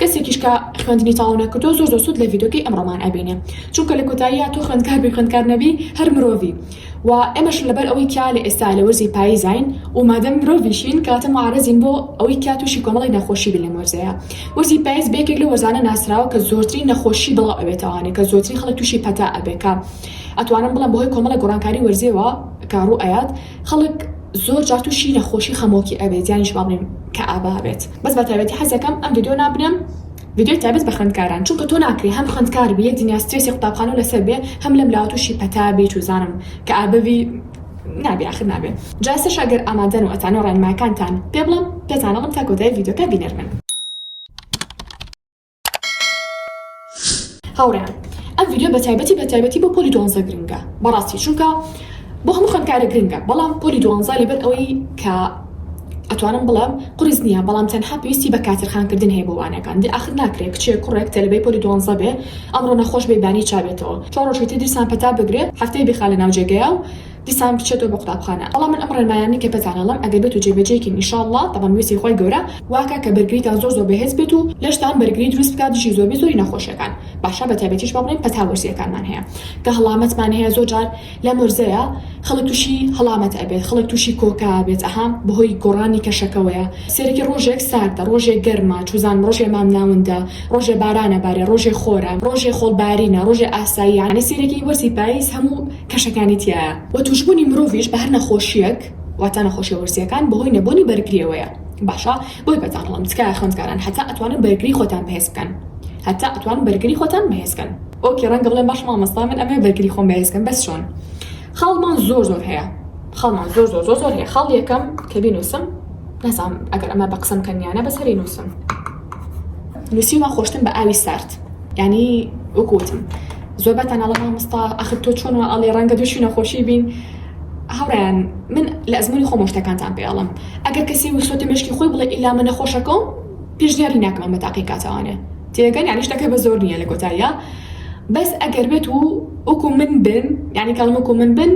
کەسێکیش کە خوێندنی تەواو نەکردووە زۆر زۆر سوود لە ڤیدۆکەی ئەمڕۆمان ئەبینێ چونکە لە کۆتاییا تۆ خوێندکار بی خوێندکار نەبی هەر مرۆڤی و ئێمەش لەبەر ئەوەی کیا لە ئێستا لە وەرزی پاییزاین و مادەم مرۆڤیشین کەواتە معرەزین بۆ ئەوەی کیا تووشی کۆمەڵی نەخۆشی بین لەم وەرزەیە وەرزی پاییز بە یەکێک لە وەرزانە ناسراوە کە زۆرترین نەخۆشی بڵاو ئەبێتەوە هەنێ کە زۆرترین خەڵک تووشی پەتا ئەبێ کە ئەتوانم بڵێم بەهۆی کۆمەڵە گۆڕانکاری وەرزیەوە کە ڕوو ئەیات خەڵک زۆر جار تووشی نەخۆشی خەمۆکی ئەبێت یانیش با بڵێم کەئابا بێت بەس بەتایبەتی حەزەکەم ئەم ڤیدیۆ نابنێم ڤیدیۆی تایبەت بە خوێندکاران چونکە تۆ ناکرێ هەم خوێندکار بی دنیا سترێسی قوتابخانەو لەسەر بێ هەم لەم لاوە توشی پەتا بیت و زانم کە ئابڤی نابێ ئاخر نابێ جا ئێستەشا گەر ئامادەن و ئەتانەوێ ڕێنمایەکانتان پێ بڵێم پێتان ئەڵێم تا کۆتایی ڤیدیۆکە بینەر بن. هاوڕێیان ئەم ڤیدیۆ بە تایبەتی بە تایبەتی بۆ پۆلی دوانزە گرنگە بەڕاستی چونکە بۆ هەموو خوێندکارە گرنگە بەڵام پۆلی دوانزە لەبەر ئەوەی کە ئەتوانم بڵێم قرس نییە بەڵام تەنها پێویستی بە کاترخانکردن هەیە بۆ وانەکان دی ئاخر ناکرێت کچێک کوڕێک تەلبەی پۆلی دوانزە بێ ئەمڕۆ نەخۆش بێ بانی چابێتەوە چۆڕۆژێتی دیسان پەتا بگرێت هەفتەی بخا لە ناوجێگەیە و دیسان بچێتەوە بۆ قوتابخانە بەڵام من ئەم ڕێنمایانەی کە پێتان ئەڵێم ئەگەر بێت و جێ بەجێی کەین ان شاء اللە تەبەن ویستی خوای گەورە واکا کە بەرگریتان زۆر زۆر بەهێز بێت و لەشتان بەرگری دروست بکات دژی زۆربەی زۆری نەخۆشیەکان باشە بەتایبەتیش با بڵێین پەتا وەرزیەکانمان هەیە کە هەڵامەتمان هەیە زۆر جار لەم وەرزەیا خەڵک توشی هەڵامەت ئەبێت خەڵک توشی کۆکە ئەبێت ئەها بەهۆی گۆڕانی کەشەکەوەیە سەیرەکی ڕۆژێک ساردە ڕۆژێ گەرمە چوزان ڕۆژێ مام ناوندە ڕۆژێ باران ئەبارێ ڕۆژێ خۆرە ڕۆژێ خۆڵ بارینە ڕۆژێ ئاساییە یانی سەیرەکی وەرزی پایز هەموو کەشەکانی تیایە وە توشبوونی مرۆڤیش بەهەر نەخۆشیەک واتا نەخۆشیە وەرزیەکان بەهۆی نەبۆنی بەرگریەوەیە باشە بۆی پێتان هەڵەم تکایە خوێندکاران هەتا ئەتوانن بەرگری خۆتان بەهێز بکەن هەتا ئەتوانن بەرگری خۆتان بەهێز کەن ئۆکێ ڕەنگە بڵێن باش مامۆستا من ئەمەوێ بەرگری خۆم بەهێز کەم بەس چۆن خاڵمان زۆر زۆر هەیە خاڵمان زۆر زۆر زۆر زۆر هەیە خاڵ یەکەم کە بینوسم نەزام ئەگەر ئەمە بە قسەم کەنیانە بەس هەری نووسم نووسیومە خۆشتن بە ئاوی سارد ینی وەکوتم زۆرباتان ئەڵێ مامۆستا ئەخر تۆ چۆن وا ئەڵێ ڕەنگە دووشی نەخۆشی بین هاوڕیان من لە ئەزمونی خۆمە شتەکانتان پێ ئەڵم ئەگەر کەسی وخسۆتە مێشکی خۆی بڵێ ئیلا من نەخۆشەکەم پێشنیاری ناکەم ئەمە تاقی کاتەوانێ تێگەن یعنی شتەکە بە زۆر نییە لە کۆتاییا بەس ئەگەر بێت و وەکو من بن یعنی کەڵم وەکو من بن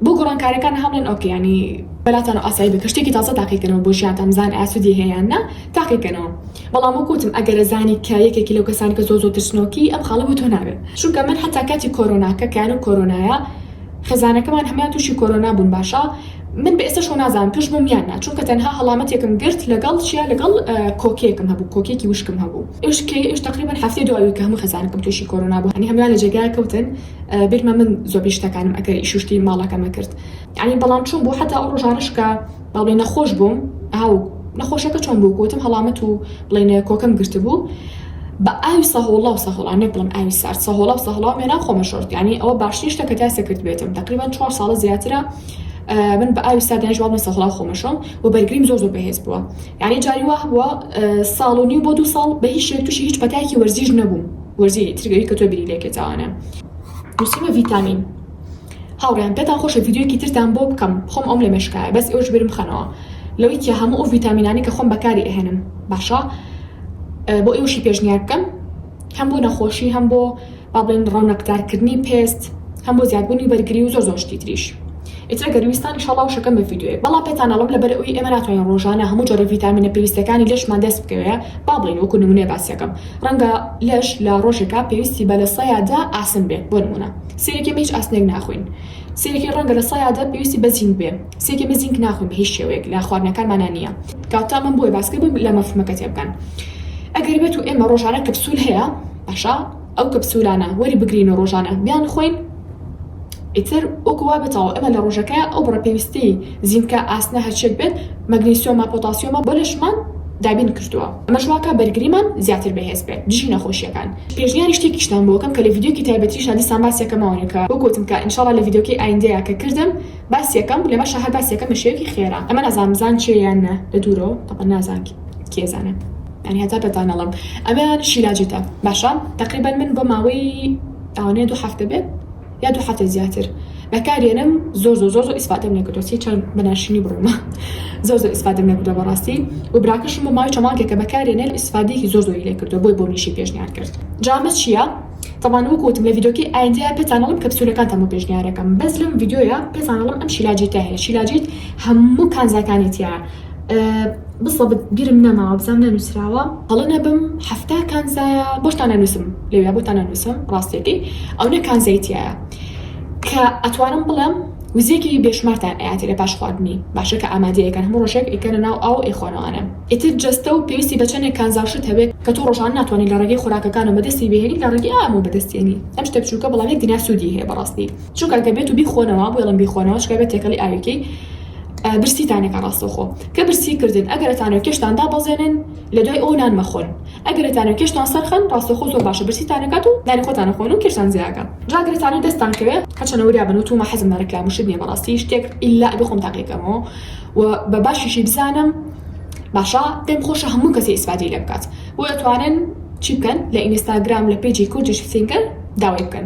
بۆ گۆڕانکارەکان هەڵێن ئۆکە ینی بەلاتان و ئاسایی بکە شتێکی تازە تاقیکەنەوە بۆ ژیانتان بزان ئاسودی هەیەیان نا تاقیکەنەوە بەڵام وەک وتم ئەگەرە زانی کە یەکێکی لەو کەسانە کە زۆر زۆر ترسنۆکی ئەم خاڵە بۆ تۆ نابێت چونکە من حەتا کاتی کۆرۆناکە کە یانەو کۆرۆنایە خێزانەکەمان هەموان توشی کۆرۆنا بون باشە من بە ئێستەش خۆ نازانم توش بوم یان نا چونکە تەنها هەڵامەتێکم گرت لەگەڵ چیا لەگەڵ کۆکێکم هەبو کۆکێکی وشکم هەبو ئێوش کەی ئێوش تەقریبەن هەفتەی دوابوی کە هەمو خێزانەکەم توشی کۆرۆنا بو یانی هەموان لە جێگایەک کەوتن بیرمە من زۆبەی شتەکانم ئەکەر ئیشو شتی ماڵەکەمە کرد یانی بەڵام چون بو حەتا ئەو ڕۆژانەش کە بەڵی نەخۆش بووم ئاو نەخۆشەکە چۆن بوو گوتم هەڵامەت و بڵێنێ کۆکم گرتبوو بە ئاوی سەهۆڵا و سەهۆڵا نەک بڵم ئاوی سارد سەهۆڵا و سەهڵا و مێنا خۆمە شۆرت ینی ئەوە باشترین شتە کە تاسە کرد بێتم تقریبان چوار ساڵە زیاترە من بە ئاوی سادیان جواب نە سەهڵا خۆمەشۆم و بەرگریم زۆر زۆر بەهێز بووە یعنی جاری وا بووە ساڵ و نیو بۆ دوو ساڵ بە هیچ شێک تووشی هیچ پەتایکی وەرزیش نەبووم وەرزی ترگەوی کە تۆ بری لێکێتاوانە نووسیمە ڤیتامین هاوڕێیان پێتان خۆشە ڤیدیۆیەکی ترتان بۆ بکەم خۆم ئەوم لە مێشکایە بەس ئێوەش بیرم بخەنەوە لەوەی تیا هەموو ئەو ڤیتامینانەی کە خۆم بەکاری ئەهێنم باشە بۆ ئێوەشی پێشنیار بکەم هەم بۆ نەخۆشی هەم بۆ با بڵێن ڕەونەقدارکردنی پێست هەم بۆ زیادبوونی بەرگری و زۆر زۆر شتی تریش ئیترە گەرویستان ئیشەڵا وشەکەم بە ڤیدیۆیە بەڵام پێتان ئەڵم لەبەر ئەوی ئێمە ناتوانین ڕۆژانە هەموو جۆرە ڤیتامینە پێویستەکانی لەشمان دەست بکەوێ با بڵێن وەکو نمونەیە باسیەکەم ڕەنگە لەش لە ڕۆژێکا پێویستی بە لە سەیادا ئاسن بێت بۆ نمونە سیرکێ بە هیچ ئاسنێک ناخۆین سیرکێ ڕەنگە لە سەیادە پێویستی بە زینک بێ سیرکێ من زینک ناخۆین بە هیچ شێوەیەک لە خواردنەکانمانا نییە کاتە من بۆیە باس کردم لە مەفهومەکە تێبگەن ئەگەر بێت و ئێمە ڕۆژانە کەپسول هەیە باشە ئەو کەپسولانە وەری بگرین و ڕۆژانە بیان خۆین ئیتر وەکو وا بێتەوە ئێمە لە ڕۆژەکە ئەو بڕە پێویستی زینکە ئاسنە هەرچێک بێت مەگنیسیۆمە پۆتاسیۆمە بۆ لەشمان دابین کردووە ئەمەش واکە بەرگریمان زیاتر بەهێز بێت دژی نەخۆشیەکان پێشنیاری شتێکیشتان بۆ ئەکەم کە لە ڤیدیۆکی تایبەتیشا دیسان باسی ئەکەمەوە کە بۆ گۆتم کە انشاللە لە ڤیدیۆکەی ئایندەیا کە کردم باسی ئەکەم لەمەشا هەر باسی ئەکەم بە شێوەکی خێرا ئەمە نازانم بزان چێ یان نە لە دوورەوە تەبعەن نازان کێ زانە یانی هەتا پێتان نەڵێم ئەمەیان شیلاجتە باشە تەقریبەن من بۆ ماوەی ئەوەنەیە دوو هەفتە بێت یا دوو حەفتە زیاتر بەکاریەنم زۆر زۆر زۆر زۆر ئیسفادەم لێکردوە چی چەند بەناشرینی بڕومە زۆر زۆر ئیسفادەم لێکردوە بەڕاستی و براکەشم بۆ ماوەی چەمانکێکە بەکاریەنێت ئیسفادەیەکی زۆر زۆری لێکردوە بۆی بۆ منیشی پێشنیار کرد جامە چییە؟ تەبان وەکو وتم لە ڤیدۆکەی ئایندەیا پێتانەڵم کەپسولەکانتان بۆ پێشنیارەکەم بەس لەم ڤیدۆیە پێتانەڵم ئەم شیلاجیتە هەیە شیلاجیت هەموو کانزاکانی تیایە بسەبت بیرم نەماوە بزام نەنوسراوە هەڵە نەبم حەفتا کانزایە بۆشتان نەنووسم لەوێ بۆتان نەنووسم ڕاستێتی ئەو نە کانزایتیایە کە ئەتوانم بڵێم وزێکی بێشمارتان ئاتی لە پاش خواردنی باشە کە ئامادەیەکەن هەموو ڕۆژێک ئیکەنە ناو ئاو ئێخۆنەوانە ئیتر جەستە و پێویستی بەچەنێک کانزاشت هەبێت کە تۆ ڕۆژان ناتوانین لە ڕێگەی خۆراکەکان و بەدەستی بهێنی لە ڕێگەی ئامۆ بەدەستێنی ئەم شتە بچووکە بەڵام یەک دینار سوودی هەیە بەڕاستی چونکە گەبێت و بیخۆنەوە بۆڵم بیخۆنەوە چکە بێت تێکەڵی ئاوێکی برسیتانەکە ڕاستەوخۆ کە برسی کردن ئەگەر ئەتانەوێت کێشتان دابەزێنن لە دوای ئەو نان مەخۆن ئەگەر ئەتانەوێت کێشتان سەرخەن ڕاستەوخۆ زۆر باشە برسیتان نەکات و نانی خۆتان خۆن و کێشتان جێ ئەگا جا ئەگەر ئەتانەوێت دەستتان کەوێت هەرچەندە وریا بن و توومە حەزم لە ڕیکلام و شت نییە بەڕاستی شتێک ئیلا ئەبێ خۆم تاقی بکەمەوە و بە باشیشی بزانم باشە پێم خۆشە هەموو کەسێ ئیسفادەی لێ بکات بۆیە ئەتوانن چی بکەن لە ئینستاگرام لە پەیجی کوردیش سینگەر داوای بکەن.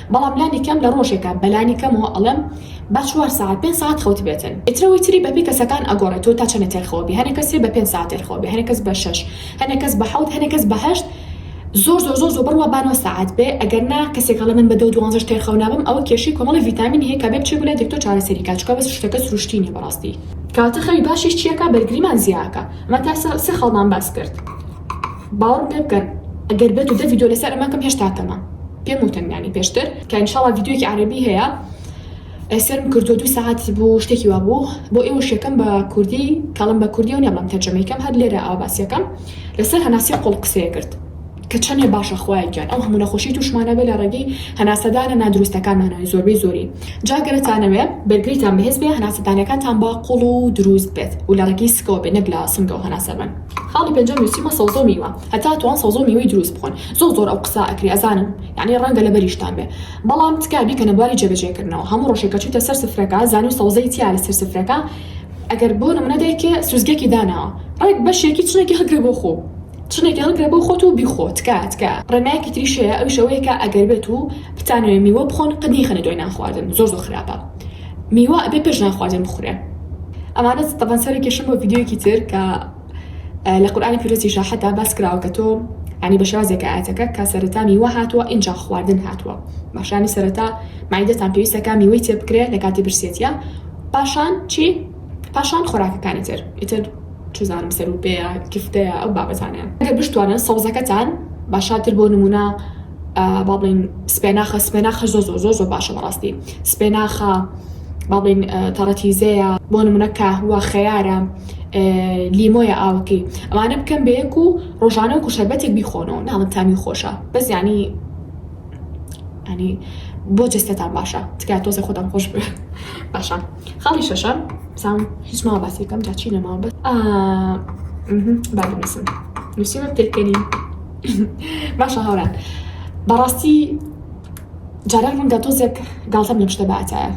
بەڵام لانی کەم لە ڕۆژێکا بە لانی کەمەوە ئەڵێم با چوار سەعات پێنج سەعات خەوت بێتن ئیتر ئەوەی تری بە پێی کەسەکان ئەگۆڕێ تۆ تا چەنە تێرخەوە بی هەنێ کەسێ بە پێنج سەعات تێرخەوە بێ هەنێ کەس بە شەش هەنێ کەس بە حەوت هەنێ کەس بە هەشت زۆر زۆر زۆر زۆر بڕوا با نۆ سەعات بێ ئەگەر نا کەسێک هەڵێ من بە دە و دوانزەش تێرخەو نابم ئەوە کێشەی کۆمەڵی ڤیتامینی هەیە کە بێ بچێ بۆ لای دکتۆر چارەسەری کا چکە بەس شتەکە سروشتی نیە بەڕاستی. کەواتە خەوی باشیش چیە کا بەرگریمان زیاکا ئەمە تا سێ خاڵمان باس کرد. باوەڕم پێ بکەن ئەگەر بێتو دە ڤیدیۆ لەسەر ئەمە کەم هێشتا کەمە پێم وتن یانی پێشتر کە ان شاءاللە ڤیدیۆکی عەرەبی هەیە ئەی سێرم کردووە دوو سەعات بوو شتێکی وا بوو بۆ ئێوەش یەکەم بە کوردی کەڵم بە کوردی و نێڵم تەرجەمەی کەم هەر لێرە ئاوا باسیەکەم لەسەر هەناسیە قوڵ قسەیە کرد کە چەندێ باشە خوایە گیان ئەو هەموو نەخۆشی تووشمانە بێ لە ڕێگەی هەناسەدانە نادروستەکانمانەوەی زۆربەی زۆری جا گەرتانەوێ بەرگریتان بەهێز بێ هەناسەدانەکانتان با قوڵ و دروست بێت و لە ڕێگەی سکەوە بێ نەک لە سنگەوە هەناسە بەن خاڵی پێنجەم نوسیومە سەوزەو میوە هەتا توان سەوزەو میوەی دروست بخۆن زۆر زۆر ئەو قسا ئەکرێ ئەزانم یانی ڕەنگە لەبەریشتان بێ بەڵام تکا بیکەنە بواری جێبەجێ کردنەوە هەموو ڕۆژێ کە چویتە سەر سفرەکە زانیو سەوزەی تیا لەسەر سفرەکە ئەگەر بۆ نمونە دایکێ سوزگێکی داناوە ڕێک بەشێکی چنێکی هەڵگرە بۆ خۆو چنێکی هەڵگرە بۆ خۆت و بیخۆ تکایە تکایە. ڕێنمایەکی تریش هەیە ئەویش ئەوەیە کە ئەگەر بێتو بتانەوێ میوە بخۆن قەت نەیخەنە دوای نان خواردن زۆر زۆر خراپە. میوە ئەبێ پێش نانخواردن بخورێ ئەمانە تەبەن سەرە کێشم بۆ ڤیددیوەکی تر کە لە قورآانی پیرۆزی شاحەتا باس کراوە کە تۆ ینی بە شێوازێک ئاەتەکە کە سەرەتا میوە هاتووە ئینجا خواردن هاتووە باشانی سەرەتا مایدەتان پێویستەکە میوەی تێ بکرێت لە کاتی برسێتە پاشان چی پاشان خۆراکەکانی تر ئیتر چزانم سەرو پێیە گفتەیە ئەو بابەتانەیە ئەگەر بشتوانن سەوزەکەتان باشاتر بۆ نمونە با بڵێن سپێناخە سپێناخە زۆ زۆ زۆ زۆ باشە بەڕاستی سپێناخە با بڵێن تەڕەتیزەیە بۆ نمونە کاهوە خەیارە لیمۆیە ئاوەکەی ئەوانە بکەن بە یەک و ڕۆژانە وەکو شەربەتێک بیخۆنەوە ناڵم تامی خۆشە بەس یانی ینی بۆ جستەتان باشە تکایە تۆزێ خۆتان خۆش باشە خاڵی شەشەم سام هیچ ماوە باسی بکەم جا چی نەماوە بەس ئا مهم، با بنووسم نووسیمە پێکەنین باشە هاوران بەڕاستی جاران ڕەنگە تۆزێک گاڵتەم لەم شتە باتایە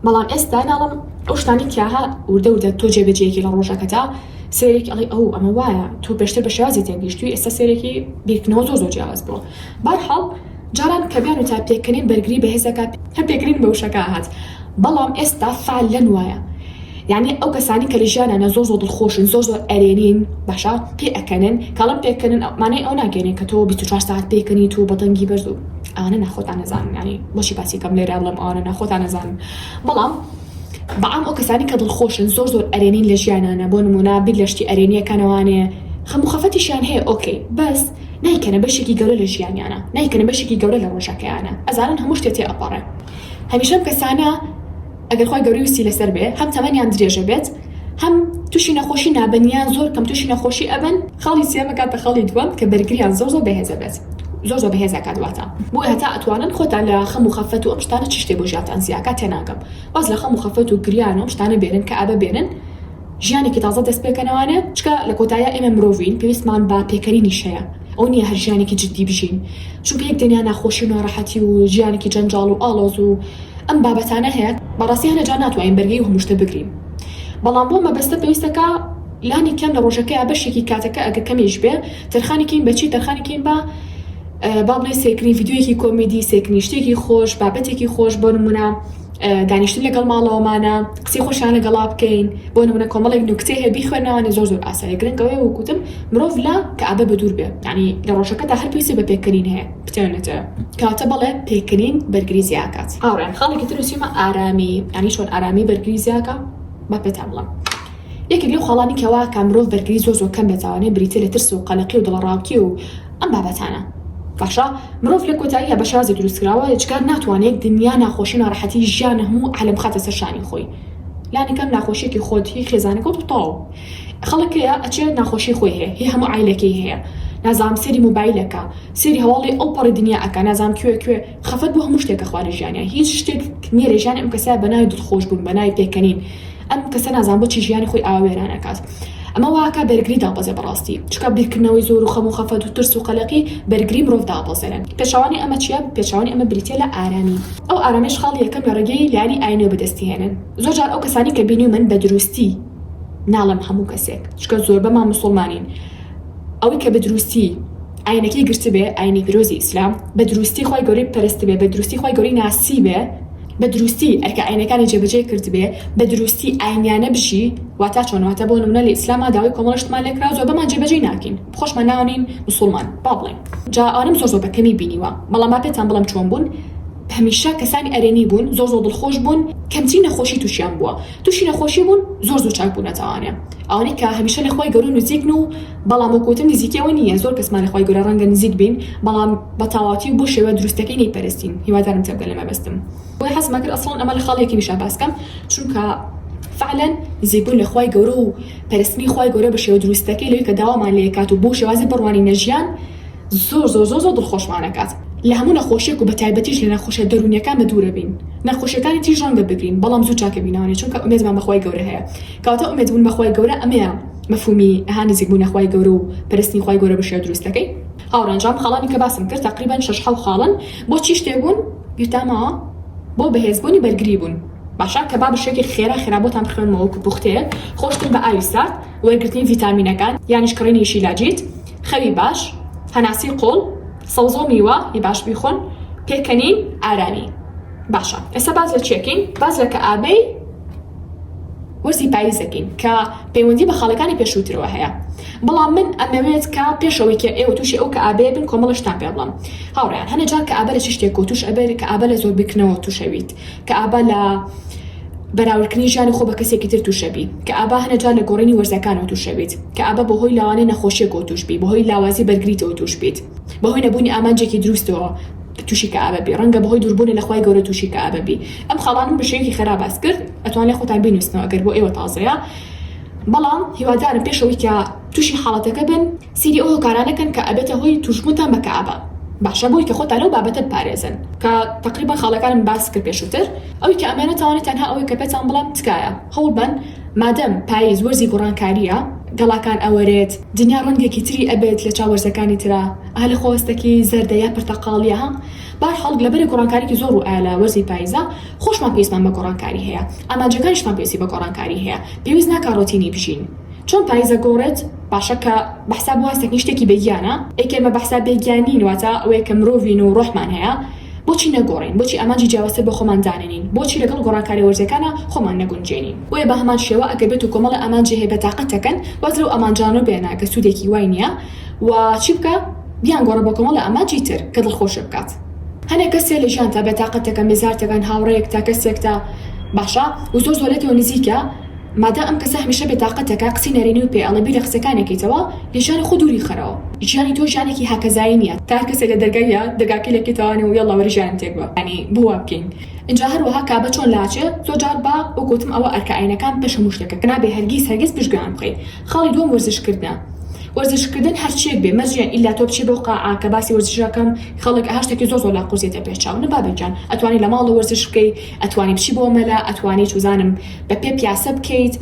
بەڵام ئێستا ناڵم ئەو شتانی تیاها وردە وردە تۆ جێبەجێکی لە ڕۆژەکەتا سێرێکی ئەڵی ئەو ئەمە وایە تۆ پێشتر بە شێوازی تێگەیشتووی ئێستا سێرێکی بیرکردنەوە زۆر زۆر جیاواز بووە بەرحاڵ جاران کە بێن و تا پێکەنین بەرگری بەهێز ئەکا هەر پێکەنین بە وشەکە ئەهات بەڵام ئێستا فال لەن وایە یانی ئەو کەسانی کە لە ژیانا نا زۆر زۆر دڵخۆشن زۆر زۆر ئەرێنین باشە پێ ئەکەنن کە ئەڵێم پێکەنن ئەو مانای ئەو ناگەنێ کە تۆ بیست و چوار سەعات پێکەنیت و بە دەنگی بەرز و ئەوانە نا خۆتان ئەزانن یانی بۆچی باسی کەم لێرا بڵێم ئەوانە نا خۆتان ئەزانن بەڵام بە عام ئەو کەسانی کە دڵخۆشن زۆر زۆر ئەرێنین لە ژیانانا بۆ نموونە بیر لە شتی ئەرێنیەکەنەوانێ خەم و خەفەتیشیان هەیە ئۆکەی بەس نایکەنە بەشێکی گەورە لە ژیانیانە نایکەنە بەشێکی گەورە لە ڕۆژەکەیانە ئەزانن هەموو شتێ تێ ئەپەڕێ هەمیشە ئەم کەسانە ئەگەر خوای گەورە ویستی لەسەر بێ هەم تەمەنیان درێژە بێت هەم توشی نەخۆشی نابن یان زۆر کەم توشی نەخۆشی ئەبن خاڵی سێم ئەکاتە خاڵی دووەم کە بەرگریان زۆر زۆر بەهێزە بێت زۆر زۆر بەهێز ئەکات واتا بۆیە هەتا ئەتوانن خۆتان لە خەم و خەفەت و ئەم شتانە چ شتێ بۆ ژیانتان زیاکات تێناگەم واز لە خەم و خەفەت و گریان و ئەم شتانە بێنن کە ئەبە بێنن ژیانێکی تازە دەست پێکەنەوانێ چکە لە کۆتاییا ئێمە مرۆڤین پێویستمان بە پێکەنینیش هەیە ئەوە نیە هەر ژیانێکی جدی بژین چونکە یەک دنیا ناخۆشی و ناڕەحەتی و ژیانێکی جەنجاڵ و ئاڵۆز و ئەم بابەتانە هەیە بەڕاستی هەنێ جار ناتوانین بەرگەی هەموو شتە بگرین بەڵام بۆ مەبەستە پێویستەکە لانی کەم لە ڕۆژەکەیا بەشێکی کاتەکە ئەگەر کەمیش بێ تەرخانی کەین بە چی تەرخانی کەین بە با بڵێ سێکرین ڤیدیۆیەکی کۆمیدی سێکرین شتێکی خۆش بابەتێکی خۆش بۆ نمونە دانیشتن لەگەڵ ماڵەوەمانە قسەی خۆشیان لەگەڵا بکەین بۆ نمونە کۆمەڵێک نوکتێ هەیە بیخوێنەوانە زۆر زۆر ئاسایە گرنگەوەی وکوتم مرۆڤ لە کەعبە بە دوور بێ ینی لە ڕۆژەکە تا هەر پێویستی بە پێکەنین هەیە بتوێنێتەوە کەواتە بەڵێ پێکەنین بەرگری زیاکات هاوڕێیان خاڵێکی تر وسیمە ئارامی ینی چۆن ئارامی بەرگری زیاکا با پێتان بڵێم یەکێک لەو خاڵانی کەوا کا مرۆڤ بەرگری زۆر زۆر کەم بێت ئەوانەی بریتیە لە ترس و قەلەقی و دڵەڕاوکی و ئەم بابەتانە. باشە مرۆڤ لە کۆتاییا بە شازی دروست کراوە ئێجگار ناتوانێت دنیا ناخۆشی ناڕەحەتی ژیانە هەموو عالەم بخاتە سەر شانی خۆی لانی کەم ناخۆشیەکی خۆت هی خێزانەکەوت و تەواو خەڵک هەیە ئەچێ ناخۆشی خۆی هەیە هی هەموو عایلەکەی هەیە نازانم سێری موبایلەکە سێری هەواڵی ئەو پەڕی دنیا ئەکا نازانم کوێ کوێ خەفەت بۆ هەموو شتێک کە خوا نەژیانیە هیچ شتێک نێرێ ژیانی ئەم کەسە بە ناوی دڵخۆش بوون بە ناوی پێکەنین ئەم کەسە نازان بۆچی ژیانی خۆی ئاوا وێران ئەکات ئەمە وا ئەکا بەرگری دابەزێ بەڕاستی چونکە بیرکردنەوەی زۆر و خەم و خەفەت و ترس و قەلەقی بەرگری مرۆڤ دابەزێنن پێچەوانەی ئەمە چیە پێچەوانەی ئەمە بریتیە لە ئارامی ئەو ئارامەیش خاڵی یەکەم لە ڕێگەی لایەنی ئاینەوە بەدەستی هێنن زۆر جار ئەو کەسانەی کە بینیومن بە دروستی ناڵێم هەموو کەسێک چونکە زۆربەمان مسوڵمانین ئەوەی کە بە دروستی ئاینەکەی گرتبێ ئاینی پیرۆزی ئیسلام بە دروستی خوای گەورەی پەرستبێ بە دروستی خوای گەورەی ناسیبێ بە دروستی ئەرکە ئاینەکانی جێ بەجێ کردبێ بە دروستی ئاینیانە بژی واتا چۆن واتا بۆ نمونە لە ئیسلاما داوای کۆمەڵە شتمان لێ کراو جواب بەمان جێ بەجێی ناکەین خۆشمان ناو نین مسوڵمان با بڵێین جا ئەوانەم زۆر زۆر بە کەمی بینیوە بەڵام با پێتان بڵێم چۆن بوون هەمیشە کەسانی ئەرێنی بوون زۆر زۆر دڵخۆش بوون کەمترین نەخۆشی توشیان بووە توشی نەخۆشی بوون زۆر زوو چاک بوونەتەوانێ ئەوانەی کە هەمیشە لە خوای گەورە نزیکن و بەڵام وەک وتم نزیکەوە نییە زۆر کەسمان لە خوای گەورە ڕەنگە نزیک بین بەڵام بە تاواتی و بۆ شێوە دروستەکەی نەیپەرستین هیوادارم تێبگە لە مەبەستم بۆیە حەزم ئەکرد ئەسڵەن ئەمە لە خاڵی یەکەمیشا باس کەم چونکە فعلەن نزیک بوون لە خوای گەورە و پەرستنی خوای گەورە بە شێوە دروستەکەی لەوەی کە داوامان لێ کات و بۆ شێوازی بڕوانینە ژیان زۆر زۆر زۆر زۆر دڵخۆشمان ئەکات لە هەموو نەخۆشیەک و بە تایبەتیش لە نەخۆشیە دەروونیەکان بە دوورە بین نەخۆشیەکانی تریش ڕەنگە بگرین بەڵام زوو چاکەبینەوە نیە چونکە ئومێدمان بە خوای گەورە هەیە کەواتە ئومێدبوون بە خوای گەورە ئەمەیە مەفهومی ئه نزیک بوونە خوای گەورە و پەرستنی خوای گەورە بە شێوە دروستەکەی. هاوڕێیان جام خاڵانی کە باسم کرد تەقریبەن شەش حەو خاڵن بۆ چی شتێک بوون بیرتان ماوە بۆ بەهێز بوونی بەرگری بوون باشە کە با بەشێکی خێرا خێرا بۆتان بخوێنمەوە وەکو پوختەیەک خۆشتر بە ئاوی سارد وەرگرتنی ڤیتامینەکان یانیش کڕینی شیلاجیت خەوی باش هەناسەی قوڵ سەوزەو میوە ی باش بیخۆن پێکەنین ئارامی باشە ئێستا باس لە چیەکەین باس لە کەئابەی وەرزی پاییزەکەین کە پەیوەندی بە خاڵەکانی پێشووترەوە هەیە بەڵام من ئەمەوێت کە پێشەوەی کە ئێوە تووشی ئەو کەئابەیە بن کۆمەڵە شتان پێ بڵێم هاوڕێیان هەنێ جار کەئابە لە چ شتێکەوە تووش ئەبێت کەئابە لە زۆر بیرکردنەوە تووش ئەبیت کەئابە لە بەراوردکردنی ژیانی خۆ بە کەسێکی تر تووش ئەبی کەئابە هەنێ جار لە گۆڕینی وەرزەکانەوە تووش ئەبیت کەئابە بەهۆی لەوانەیە نەخۆشیەکەوە تووش بی بەهۆی لاوازی بەرگریتەوە تووش بیت بەهۆی نەبوونی ئامانجێکی دروستەوە توشی کەئابە بی ڕەنگە بەهۆی دوربونە لە خوای گەورە توشی کەئابە بی ئەم خاڵانەم بە شێوەیەکی خێرا باس کرد ئەتوانرێ خۆتان بینوسنەوە ئەگەر بۆ ئێوە تازەیە بەڵام هیوادارم پێش ئەوەی کە توشی حاڵەتەکە بن سیری ئەو هۆکارانە کەن کە ئەبێتە هۆی توشبونتان بە کەئابە باشە بۆی کە خۆتان لەو بابەتە بپارێزن کە تەقریبەن خاڵەکانم باس کرد پێشوتر ئەوی کە ئەمەێنە تاوانە تەنها ئەوەی کە پێتان بڵێم تکایە هەوڵ بەن مادەم پایز وەرزی گوڕانکاریە گەڵاکان ئەوەرێت دنیا ڕەنگێکی تری ئەبێت لە چاو وەرزەکانی ترا. ئا لە خۆستەکی زەردە یا پرتەقاڵیە ها بەهەرحاڵ لە بەرە گۆڕانکاریکی زۆر ڕوو ئایا لە وەرزی پایزە خۆشمان پێویستمان بە گۆڕانکاری هەیە ئامانجەکانیشمان پێویستی بە گۆڕانکاری هەیە پێویست ناکا ڕۆتینی بژین چۆن پایزە گۆڕێت باشە کە بەحساب واستەکنی شتێکی بێ گیانە ئەی کە ئێمە بەحساب بێ گیان نین واتە ئەوەیە کە مرۆڤین و ڕۆحمان هەیە بۆچی نەگۆڕین بۆچی ئامانجی جیاوازتر بۆ خۆمان دانەنین بۆچی لەگەڵ گۆڕانکاریە وەرزیەکانا خۆمان نەگونجێنین بۆیە بە هەمان شێوە ئەگەر بێتو کۆمەڵێ ئامانجی هەیە بە تاقەتەکەن واز لەو ئامانجانە بێنە کە سودێکی وای نیە و چی بکە بیان گۆڕە بۆ کۆمەڵە ئامانجی تر کە دڵخۆشێ بکات هەنێ کەسێ لە ژیانتا بێتاقەتەکەن بێزارتەکەن هاوڕێیەکتا کەسێکتا باشە و زۆر زۆرێتەوە نزیکە مادام ئەم کەسە هەمیشە بێتاقەتەکە قسەی نەرێنیو پێ ئەڵێ بیرە قسەکانێکەیتەوە لەژیانی خۆ دوری خەرەوە ژیانی تۆ ژیانێکی هاکەزایی نیە تا هەر کەسێ لە دەرگای یا دەگاکەی لە کێتەوانەوە یەڵا وەرە ژیانم تێک بە یانی بۆ وا بکەین ئینجا هەروەها کابە چۆن لاچێ زۆر جار با وەک وتم ئەوە ئەرکە ئاینەکان پێش هەموو شتێکە کە نابێ هەرگیز هەرگیز پشت گوێیان بخەی خاڵی دووەم وەرزش کردنە وەرزش کردن هەرچیەک بێ مەرجە ئیلا تۆ بچی بۆ قاعە کە باسی وەرزشەکەم خەڵک ئەها شتەکی زۆر زۆر لا قورسێتە پێش چاو نە بابە گیان ئەتوانی لە ماڵە وەرزش بکەی ئەتوانی بچی بۆ مەلا ئەتوانی چوزانم بە پێ پیاسە بکەیت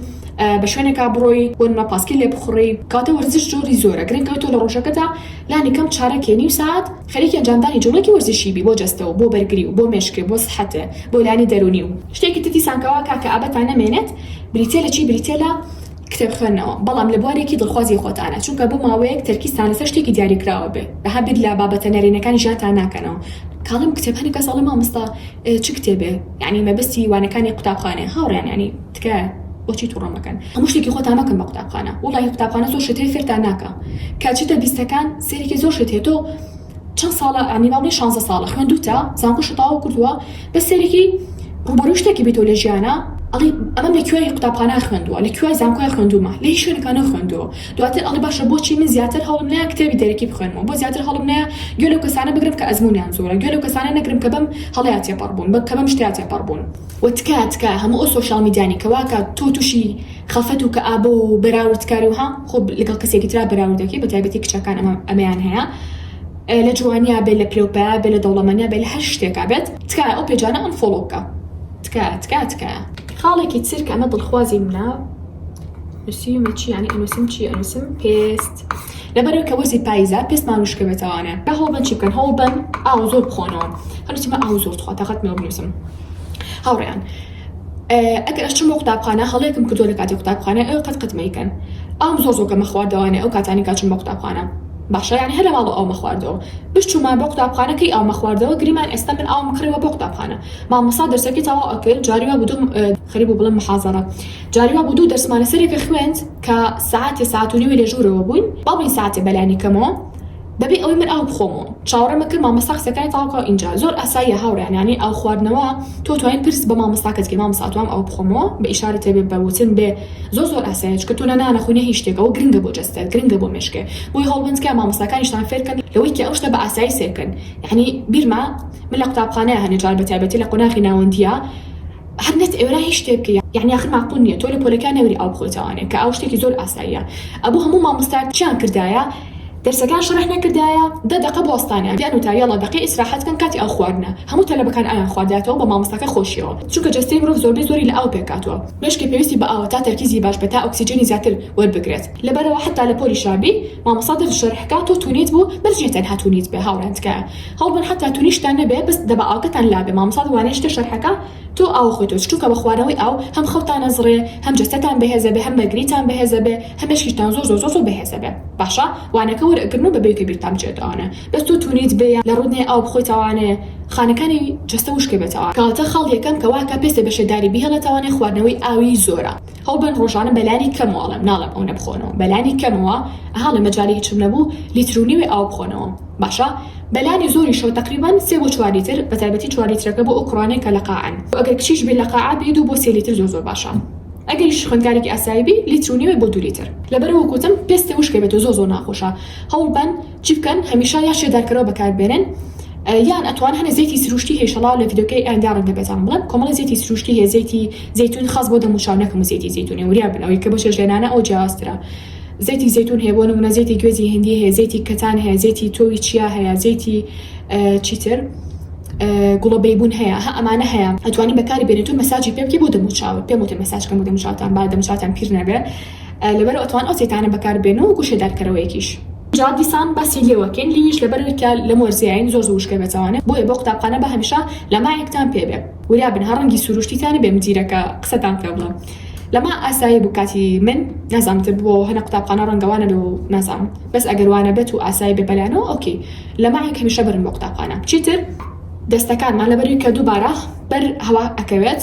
بە شوێنێکا بڕۆی بۆ نمە پاسکیل لێ بخوڕی کاتە وەرزش جۆری زۆرە گرنگ ئەوەی تۆ لە ڕۆژەکەتا لانی کەم چارەکێ نیو سات خەریکی ئەنجامدانی جوڵەیەکی وەرزشی بی بۆ جەستە و بۆ بەرگری و بۆ مێشک بۆ سحەت بۆ لایەنی دەرونی و شتێکی تر دیسان کەوا کاکە ئابەتا نەمێنێت بریتیە لە چی بریتیە لە کتێب خوێندنەوە بەڵام لە بوارێکی دڵخوازی خۆتانە چونکە بۆ ماوەیەک تەرکیزتان لەسەر شتێکی دیاریکراوە بێ بەها بیر لە بابەتە نەرێنەکانی ژیانتان ناکەنەوە کاڵم کتێبانی کەس ئەڵێ مامۆستا چ کتێبێ یانی مەبەستی وانەکانی قوتابخانەیە هاوڕێیان یانی تکایە بۆچی توڕە مەکەن هەموو شتێکی خۆتان مەکەن بە قوتابخانە وەڵاهی قوتابخانە زۆر شت هەیە فێرتان ناکا کە چیتە بیستەکان سەیرێکی زۆر شت هەیە تۆ چەند ساڵە ئەعنی ماوەی شانزە ساڵە خوێندوتە زانکۆ شوتاوە کردوە بەس سەیرێکی ڕوبەروی شتەکی بیتۆ لە ژیانا ئەڵی ئەمەم لە کوێی قوتابخانە خوێندوە لە کوێی زانکۆی خوێندومە لە هیچ شوێنێکا نەخوێندوە دواتر ئەڵی باشە بۆچی من زیاتر هەوڵم نایە کتێبی دەرەکی بخوێنمەوە بۆ زیاتر هەوڵم نایە گوێ لەو کەسانە بگرم کە ئەزمونیان زۆرە گوێ لەو کەسانە نەگرم کە بەم هەڵەیا تێپەڕبون بە کە بەم شتەیا تێپەڕبون وە تکایە تکایە هەموو ئەو سۆشیاڵ میدیانی کە واکات تۆ توشی خەفەت و کەئابە و بەراوردکاری وەها خۆ لەگەڵ کەسێکی ترا بەراورد دەکەی بەتایبەتی کچەکان ئەمە ئەمەیان هەیە لە جوانیا بێ لە پلەو پایە بێ لە دەوڵەمەنیا بێ لە هەر شتێکا بێت تکایە ئەو پێجانە ئەنفۆڵۆ بکە تکایە تکایە تکایە. خاڵێکی تر کە ئەمە دڵخوازی منە نوسیومە چی یانی ئەنوسم چی ئەنوسم پێست لەبەرەوەی کە وەرزی پایزە پێستمان وشکە بێتەوانە با هەوڵ بەن چی بکەن هەوڵ بەن ئاو زۆر بخۆنەوە هەرچی من ئاو زۆر تخوا تاقەتم نەوە بنوسم هاوڕێیان ئەگەر ئەشچم بۆ قوتابخانە هەڵەیەکم کردوە لەکاتی قوتابخانە ئێوە قەت قەت مەیکەن ئاوم زۆر زۆر کەمە خواردەوانێ ئەو کاتانی کە ئەچم بۆ قوتابخانە باشە یانی هەر لەماڵەوە ئاومە خواردەوە بشچوما بۆ قوتابخانە کەی ئاومە خواردەوە گریمان ئێستا من ئاوم کڕیوە بۆ قوتابخانە مامۆستا دەرسەکەی تەواو ئەکرد جاری وا بوو خەریبوو بڵێم محازەڕە جاری وا بوو دوو دەرسمانە سەرێکە خوێند کە سەعاتێ سەعات و نیوێ لە ژوورەوە بووین با بڵێین سەعاتێ بەلانی کەمەوە بەبێ ئەوەی من ئاو بخۆم و چاوەڕێم ئەکرد مامۆستا قسەکانی تەواو بکا و ئینجا زۆر ئاساییە هاوڕێیان یانی ئاو خواردنەوە تۆ توانی پرس بە مامۆستاکەت کەی مامۆستا ئەتوام ئاو بخۆمەوە بە ئیشارە تێ بێ بە وتن بێ زۆر زۆر ئاساییە چونکە تۆ نە نان ئەخۆی نە هیچ شتێک ئەوە گرنگە بۆ جەستەت گرنگە بۆ مێشکێ بۆیە هەوڵبەن تکایە مامۆستاکانیشتان فێر کەن لەوەی کە ئەو شتە بە ئاسایی سەیر بکەن یانی بیرمە من لە قوتابخانەیە هەنێ جار بە تایبەتی لە قۆناغی ناوەندییە هەر نەت ئێرا هیچ شتێ بکەی یانی ئاخر ماقوول نییە تۆ لە پۆلەکە نەوری ئاو بخۆیتەوانێ کە ئاو شتێکی زۆر ئاساییە ئەبوو هەموو مامۆستایەک چیان کردایە دەرسەکان شەرح نەکردایە دە دەقە بوەستانیان دەن وتایە یەڵا دەقەی ئیسراحەت کەن کاتی ئاو خواردنە هەموو تەلەبەکان ئاویان خواردایەتەوە بە مامۆستاکە خۆشیەوە چونکە جەستەی مرۆڤ زۆربەی زۆری لە ئاو پێکهاتوە مێشکی پێویستی بە ئاوە تا تەرکیزی باش بێت تا ئۆکسیجێنی زیاتر وەربگرێت لەبەرئەوە حەتا لە پۆلی شا بی مامۆستا دەرس شەرح کا تۆ تونیت بوو بەس نیە تەنها تونیت بێ هاوڕێیان تکایە هەوڵبەن حەتا تونیشتان نەبێ بەس دەبا ئاوکەتان لابێ مامۆستا دوبارە یەشتر شەرحەکا تۆ ئاو خۆی تۆچ چونکە بە خواردنەوەی ئاو هەم خەوتان ئەزڕێ هەم جەستەتان بەهێز ئەبێ هەم بەرگریتان بەهێز ئەبێ هەم مێشکیشتان زۆر زۆر زۆر زۆر بەهێز ئەبێ باشە وانەکە وەر ئەگرن و بە بەیکە بیرتان بچێت ئەوانە بەس تۆ تونیت بێ یان لە ڕوت نێ ئاو بخۆی تاوانێ خانەکانی جەستە وشکەبێتەوە کەواتە خاڵ یەکەم کە واکە پێستێ بە شێداری بیهێڵێ تاوانێ خواردنەوەی ئاوی زۆرە هەوڵبەن ڕۆژانە بەلانی کەمەوە ئەڵێم ناڵێم ئەونە بخۆنەوە بەلانی کەمەوە ئەها ڵێ مەجالی هیچم نەبوو لیترو نیوێ ئاو بخۆنەوە باشە بەلانی زۆری شەو تەقریبەن سێ بۆ چوار لیتر بەتایبەتی چوار لیترەکە بۆ ئەو کوڕانەی کە لە قاعەن و ئەگەر کچیش بێ لە قاعە بێ دوو بۆ سێ لیتر زۆر زۆر باشە ئەگەریش خوێندکارێکی ئاسایی بی لیترو نیوێ بۆ دوو لیتر. لەبەرئەوە گۆتم پێستە وشکەبێتۆ زۆر زۆر ناخۆشە هەوڵبەن. چی بکەن هەمیشە یا شێدارکەرەوە بەکار بێنن یان ئەتوان هەنێ زەیتی سروشتی هەیە شەڵاو لە ڤیدۆکەی ئایندا ڕەنگە بێتان بڵێم کۆمەڵی زەیتی سروشتی هەیە زەیتی زەیتون خاس بۆ دەم و چاو نەک هەموو زەیتی زەیتونێ وریا بن ئەوەی کە بۆ چێشت لێنانە ئەو جیاوازترە زەیتی زەیتون هەیە بۆ نمونە زەیتی گوێزی هندی هەیە زەیتی کەتان هەیە زەیتی تۆوی چیا هەیە زەیتی چیتر گوڵە بەیبون هەیە هە ئەمانە هەیە ئەتوانی بەکاری بێنێت و مەساجی پێ بکە بۆ دەم و چاوت پێم وتە مەساج کەم و دەم و چاوتان با دەم و چاوتان پیر نەبێ لەبەرەوە ئەتوان ئەو زەیتانە بەکار بێن و گوشەدارکەرەوەیەکیش جا دیسان باسی لێوەکەین لیویش لەبەرەوەی کە لەم وەرزەیاین زۆر زوو وشکە بێتەوانێ بۆیە بۆ قوتابخانە با هەمیشە لە مایکتان پێ بێ وریا بن هە ڕەنگی سروشتی تان بێ مدیرەکە قسەتان پێ بڵێ لە ما ئاسایی بوو کاتی من نازام تر بووەوە هەنە قوتابخانە ڕەنگە وا نەبێ و نازام بەس ئەگەر وا نەبێت و ئاسایی بێ بەلانەوە ئۆکەی لە مایک هەمیشە برن بۆ قوتابخانە چیتر دەستەکانمان لەبەروی کە دووبارە بەر هەوا ئەکەوێت.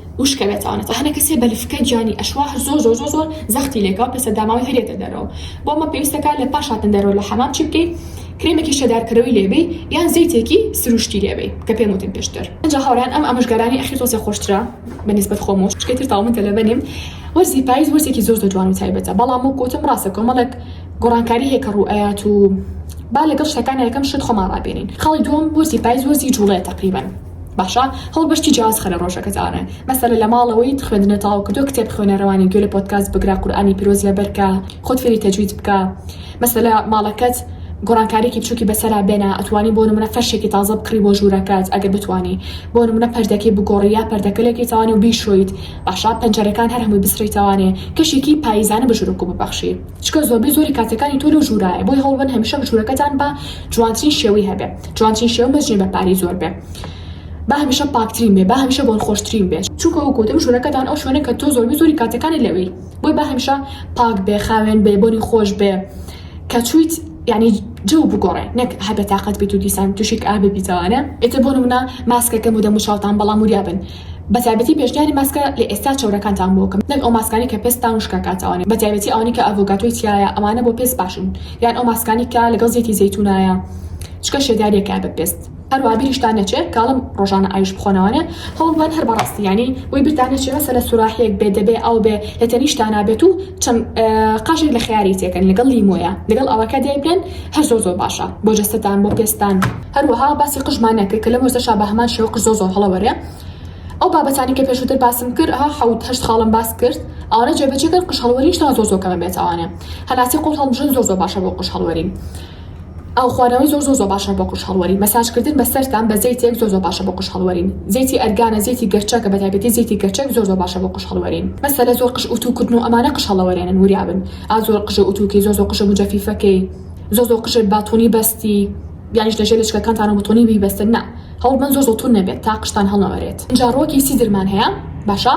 وشکەوێتانە تا هەنێ کەسێ بە لفکەی گیانی ئەشوا هەر زۆر زۆر زۆر زۆر زەختی لێکا و پێسە داماوی هەر یەتە دەرەوە بۆ مە پێویستە کا لە پاش هاتن دەرەوە لە حەمام چی بکەی کرێمێکی شێدار کەرەوی لێ بەی یان زەیتێکی سروشتی لێ بەی کە پێم وتن پێشتر. ئنجا هاورێیان ئەم ئامۆژگارانەی ئەخیر تۆسێ خۆشترە بە نیسبەت خۆم و شکەی تر تاو من تەلەبە نیم وەرزی پایز وەرزێکی زۆر زۆر جوان و تایبەتە بەڵام وەک وتم ڕاستە کۆمەڵێک گۆڕانکاری هەیە کە ڕوو ئەیات و با لەگەڵ شتەکانا یەکەم شت خۆمان ڕابێنین خاڵی دووەم وەرزی پایز وەرزی جوڵەیە تەقریبەن باشە هەڵبژتی جیاواز خەرە ڕۆژەکەت ئاڕێ مەسەلە لە ماڵەوەیت خوێندنە تەواو کردوە کتێب خوێنە ڕەوانین گوێ لە پۆدکاست بگرە قورئانی پیرۆز لەبەرکە خۆت فێری تەجوید بکە مەسەلە ماڵەکەت گۆڕانکاریکی بچوکی بەسەرا بێنە ئەتوانی بۆ نمونە فەرشێکی تازە بکڕی بۆ ژوورەکەت ئەگەر بتوانی بۆ نمونە پەردەکەی بگۆڕی یا پەردەکەلێکی تەوانێ و بیشۆیت باشە پەنجەرەکان هەر هەمووی بسڕیتەوانێ کەشێکی پاییزانە بە ژوورەکو ببەخشی چکە زۆربەی زۆری کاتەکانی تۆ لەو ژوورایە بۆی هەوڵبن هەمیشە ژوورەکەتان بە جوانترین شێوەی هەبێ جوانترین شێوە مەجنێ بە پارەی زۆر بێ با هەمیشە پاکترین بێ با هەمیشە بۆن خۆشترین بێ چونکە وەک وتم ژوورەکەتان ئەو شوێنە کە تۆ زۆربەی زۆری کاتەکانی لەوی بۆی با هەمیشە پاک بێ خاوێن بێ بۆنی خۆش بێ کە چویت یعنی جەو بگۆڕێ نەک هەر بێتاقەت بیت و دیسان تووشی کئ ببیتەوانە ئێتر بۆ نمونە ماسکەکەم و دەموچاوتان بەڵام وریا بن بە تایبەتی پێشنیاری ماسکە لە ئێستا چەورەکانتان بۆ بکەم نەک ئەو ماسکانەی کە پێستتان وشک ئەکات ئەوانەی بە تایبەتی ئەوانەی کە ئەڤۆگاتۆی تیایە ئەوانە بۆ پێست باشن یان ئەو ماسکانەی کە لەگەڵ زەیتی زەیتونایە چکە شێداریەکە بە پێست. هەروەها بیریشتان نەچێ کاڵم ڕۆژانە ئاویش بخۆنە وانە هەوڵ بەن هەر بەڕاستی یانی بۆی بیرتان نەچێ مەسەلە سوراحیەک بێ دەبێ ئاو بێ لە تەنیشتانا بێت و چەند قاژێک لە خەیاری تێکەن لەگەڵ لیمۆیە لەگەڵ ئاوەکە دای بنێن هەر زۆر زۆر باشە بۆ جەستەتان بۆ پێستتان. هەروەها باسی قژمان نەکرد کە لەم وەرزەشا بە هەمان شێوە قژ زۆر زۆر هەڵە وەرێ ئەو بابەتانەی کە پێشووتر باسم کرد ئەها حەوت هەشت خاڵم باس کرد ئەوانە جێبەجێ کەن قژ هەڵوەری شتان زۆر زۆر کەمە بێت ئەوانە هەناسەی قوڵ هەڵمژن زۆر زۆر باشە بۆ قژ هەڵوەرین ئاو خوارەوەی زۆر زۆر زۆر باشە بۆ قژ هەڵوەری مەساجکردن بە سەرتان بە زەیتێک زۆر زۆر باشە بۆ قژ هەڵوەرین زەیتی ئەرگانە زەیتی گەرچە کە بە تایبەتی زەیتی گەرچەک زۆر زۆر باشە بۆ قژ هەڵوەرین مەسەلە زۆر قژ ئوتوو کردن و ئەمانە قژ هەڵەوەرێنن وریابن ئا زۆر قژە ئوتووکەی زۆر زۆر قژە موجەفیفەکەی زۆر زۆر قژت باتونی بەستی یانیش لەژێر لەچکەکانتانەوە بتونی بیبەستن نا هەوڵبەن زۆر زۆر تون نەبێت تا قژتان هەڵنەوەرێت ئینجا ڕۆکی سیدرمان هەیە باشە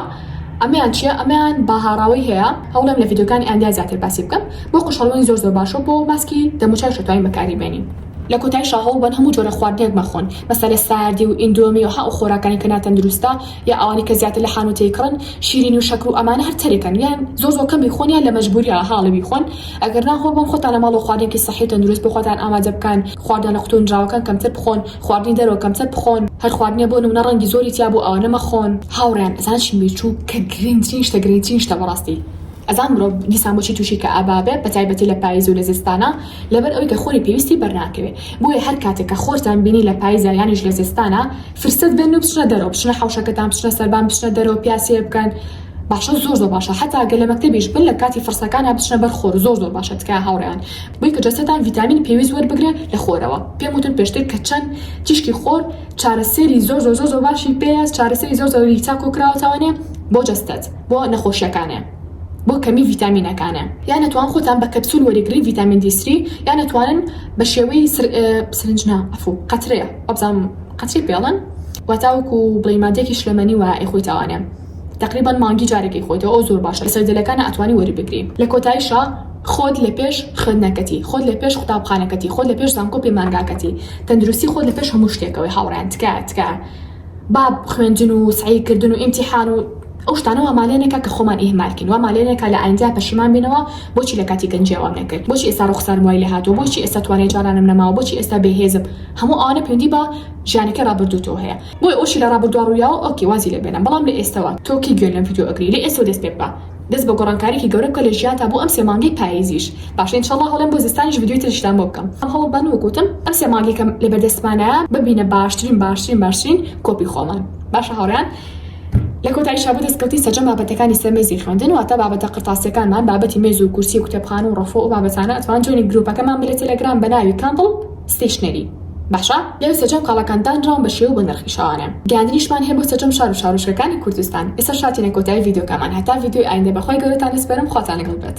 ئەمەیان چیە ئەمەیان باهاڕاوەی هەیە هەوڵێم لە ڤیدیۆکانی ئایندە زیاتر باسی بکەم بۆ قژ هەڵمەی زۆر زۆر باشە بۆ ماسکی دەموچاویش دەتوانین بەکاری بێنین. لە کۆتایشا هەوڵبەن هەموو جۆرە خواردنێک مەخۆن مەسە لە ساردی و ئیندۆمی و ها ئەو خۆراکانەی کە ناتەندروستە یا ئەوانەی کە زیاتر لە حانوتەی کڕن شیرینی و شەکر و ئەمانە هەر تەرکەن یان زۆر زۆر کەم بیخۆن یان لە مەجبوریەوە هەاڵی بیخۆن ئەگەر نا خۆ بۆ خۆتانە ماڵەوە خواردنێکی سەحی و تەندروست بۆ خۆتان ئامادە بکەن، خواردنە قوتونراوەکان کەمتر بخۆن، خواردنی دەرەوە کەمتر بخۆن، هەر خواردنێ بۆ نمونە ڕەنگی زۆری تیا بوو ئەوانە مەخۆن. هاوڕێیان ئەزان چیم بیر چوو کە گرینترین شتە گرینترین شتە بەڕاستی ئەزان مرۆڤ دیسان بۆچی توشی کەئابا بێ بەتایبەتی لە پایز و لە زستانا لەبەر ئەوی کە خۆری پێویستی بەرناکەوێ بۆیە هەر کاتێ کە خۆرتان بینی لە پایزا یانیش لە زستانا فرسەت بێننو بچنە دەرەوە بچنە حەوشەکەتان بچنە سەربان بچنە دەرەوە پیاسێ بکەن باشە زۆر زۆر باشە حەتا گەر لە مەکتەبیش بن لە کاتی فڕسەکانا بچنە بەر خۆر زۆر زۆر باشە تکایە هاوڕێیان بۆی کە جەستەتان ڤیتامینی پێویست وەربگرێ لە خۆرەوە پێم وتن پێشتر کە چەن تیشکی خۆر چارەسێری زۆر زۆر زۆر زۆر باشی پێیە چارەسەری زۆر زۆری چا کۆ کراوەتەوەێ بۆ جەستەت بۆ نەخۆشیەکانێ بۆ کەمی ڤیتامینەکانێ. یان ئەتوان خۆتان بە کەپسول وەریگرن ڤیتامین دی سری یان ئەتوانن بە شێوەی سرنج نا ئەفو قەترەیە وابزانم قەتری پێڵن واتاوەکو بڵی مادێکی شلەمەنی وایە ئەی خۆی تاوانێ. تەقریبەن مانگی جارێکی خۆیتەوە ئەو زۆر باشە لەسەر دەلەکانا ئەتوانی وەری بگری. لە کۆتایشا خۆت لە پێش خوێندنەکەتی خۆت لە پێش قوتابخانەکەتی خۆت لە پێش زانکۆ پەیمانگاکەتی تەندروستی خۆت لە پێش هەموو شتێکەوەی هاوڕێیان تکایە تکایە با خوێندن و سەعی کردن و ئیمتیحان و ئەو شتانە وامان لێ نەکا کە خۆمان ئیهمال کەین وامان لێ نەکا لە ئایندە پەشیمان بینەوە بۆچی لە کاتی گەنجیا وام نەکرد بۆچی ئێستا ڕوخسارم وای لێ هاتووە بۆچی ئێستا توانای جارانم نەماوە بۆچی ئێستا بێ هێزم هەموو ئەوانە پەیوەندی بە ژیانەکەی ڕابردووتەوە هەیە. بۆیە ئەوشی لە ڕابردوا ڕویاوە ئۆکەی وازی لێ بێنە بەڵام لە ئێستەوە تۆ کەی گوێ لەم ڤیدیۆ ئەگری لە ئێستەوە دەست پێ بکە دەست بە گۆڕانکاریەکی گەورە بکە لە ژیانتا بۆ ئەم سێ مانگەی پاییزیش باشە ان شاءاللە هەڵێم بۆ زستانیش ڤیدیۆی تریشتان بۆ بکەم بەڵام هەوڵ بەن وەک وتم ئەم سێ مانگەی کە لە بەردەستمانە ببینە باشترین باشترین باشترین کۆپی خۆمان باشە هاوڕێیان لە کۆتایشا بۆ دەستکەوتی سەرجەم بابەتەکانی سەر مێزی خوێندن واتە بابەتە قرتاسیەکانمان بابەتی مێز و کورسی و کتێبخانە و ڕەفۆ و بابەتانە ئەتوان جوێنی گروپەکەمان بە لە تێلێگرام بە ناوی کاندڵ ستەیشنەری، باشە لێرە سەرجەم کاڵاکان دانراون بە شێوە بۆ نرخی شاوانە گەیاندنیشمان هەیە بۆ سەرجەم شار و شارۆچکەکانی کوردستان ئێستا شاتینە کۆتایی ڤیدیۆکەمان هەتا ڤیدیۆی ئایندە بەخوای گەورەتان دەسپەرم خواتان لەگەڵ بێت.